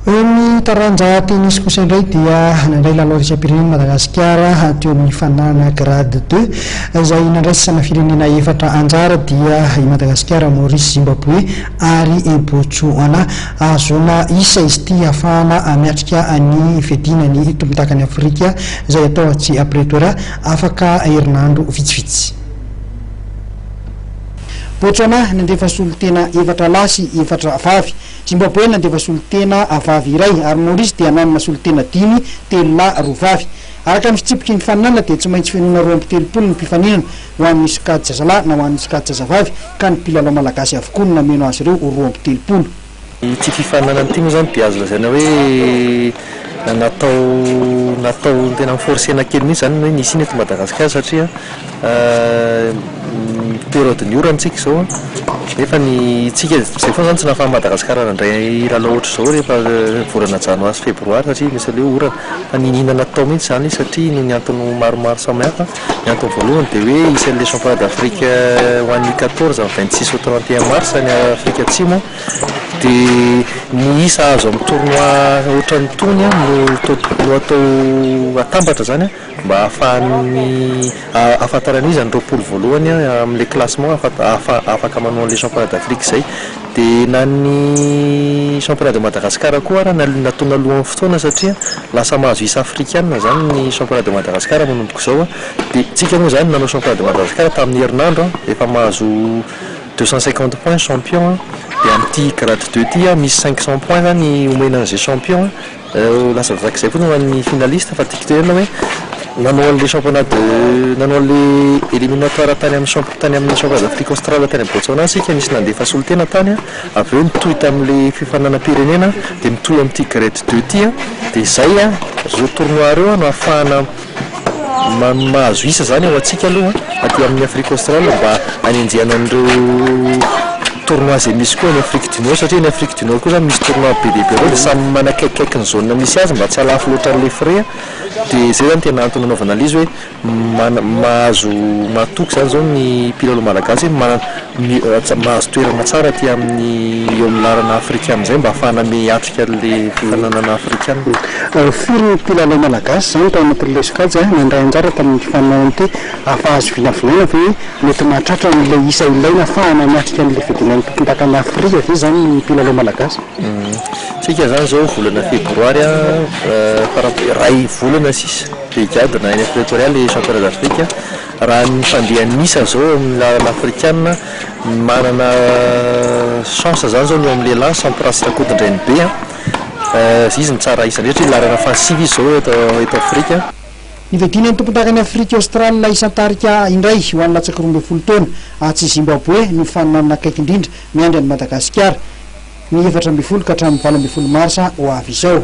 Eo amin'ny taranja tennis kosa indray dia nandray lalao iraisam-pirenena i Madagasikara teo amin'ny fanana grade deux izay nandraisana firenena efatra anjara dia i Madagasikara, Maurice, Zimbaboe ary i Botsoana. Ahazoana isa izy ity hahafahana miatrika ny fiadiana ny tompon-dakan'i Afrika izay atao atsy Pretoria afaka herinandro vitsivitsy. Botsoana nandefa solontena efatra lahy sy efatra vavy Jimbaboe nandefa solontena vavy iray ary Maorisy dia nanana solontena dimy, telo lahy, roa vavy. Araka ny fitsipiky ny faninanana dia tsy maintsy fenoina roa amby telopolo ny mpifaninana ho an'ny sokajy-zazalahy na ho an'ny sokajy-zazavavy ka ny mpilalao malagasy avokoa no nameno azy ireo ho roa amby telopolo. Ity fifaninanana ity moa izany dia azo lazaina hoe. Na natao natao tena mi-forcer-na kely mihitsy izany ny hoe ny hisiana eto Madagasikara satria période-n'ny orana isika izao an, nefa ny isika izay foana izany tsy nahafahan'i Madagasikara nandray lalao ohatr'izao rehefa volana janoary sy febroary satria misy an'ilay hoe orana. Fa niniana natao mihitsy izany izy satria noho ny antony maromaro samihafa. Ny antony voalohany dia hoe isan'ny le championnat d'Afrique ho an'ny quatorze amin'ny vingt six au trente et un mars any Afrika Atsimo an. Dia ny isa azo amin'ny tournoi ohatran'itony no no atao atambatra izany mba ahafahan'ny ahafantarana iza ny roapolo voalohany amin'ilay classement ahafa- afaka manao an'ilay championnat d'Afrique izay. Dia na ny championnat de Madagascar koa ary nal- natao naloan'ny fotoana satria lasa mahazo isa afrikana izany ny championnat de Madagascar manomboka izao an, dia isika moa izany nanao championnat de Madagascar tamin'ny herinandro an, efa mahazo Deux cent cinquante points champion an, dia amin'ity grade deux ity an, misy cinq cent points zany omena an'izay champion an, lasa voarak'izay koa ny ho an'ny finaliste, fa tiako tenenina hoe, nanao an'ilay championnat de, nanao an'ilay eliminatoire tany amin'ny champ- tany amin'ny championnat d'Afrique Australe tany Botswana isika, nisy nandefa solontena tany an, avy eo nitohy tamin'ilay fifaninanam-pirenena, dia mitohy amin'ity grade deux ity an, dia izay an, ireo tournois ireo no ahafahana Maha mahazo isa izany ho antsika aloha aty amin'ny Afrique Australe mba hanenjehana an'ireo tournois izay misy koa any Afrique du Nord satria any Afrique du Nord koa izany misy tournois be dia be ireo dia samy manakaikikaiky ny zone misy azy mba tsy halafo loatra an'ilay frais dia izay izany tena antony anaovana an'ilay izy hoe mana- mahazo mahatoky izany izao ny mpilalao malagasy hoe mana- ny ôhatra mahazo toerana tsara aty amin'ny eo amin'ny lalana afrikana izay mba afahana miha hiatrika an'ilay fifaninanana afrikana. Firy ny mpilalao malagasy izany tao anatin'ilay sokajy nandray anjara tamin'ity fifaninanana ity? Afahazo vinavinaina ve hoe mety mahatratra an'ilay isa ilaina afahana miatrika an'ilay fidinan'ny tompondakan'i Afrika ve izany ny mpilalao malagasy? Isika izany izao volana febroary fara iray volana sisa dia higadona any Pretoria ilay championnat d'Afrique. Raha ny fandehan'ny isa izao eo amin'ny lalana afrikana, ny manana chance izany izao ny eo amin'ny lehilahy, Sampras Rakotondrainibe an, izy no tsara isa indrindra satria lalana fahasivy izy izao eto eto Afrika. Nivedinan'ny tompondakan'i Afrika Aostrala isan-tarika indray ho an'ny latsaka roa ambin'ny folo taona atsy Zimbaboe ny faninanana akaiky indrindra miandry an'i Madagasikara, ny efatra ambin'ny folo ka hatramin'ny valo ambin'ny folo marsa ho avy izao.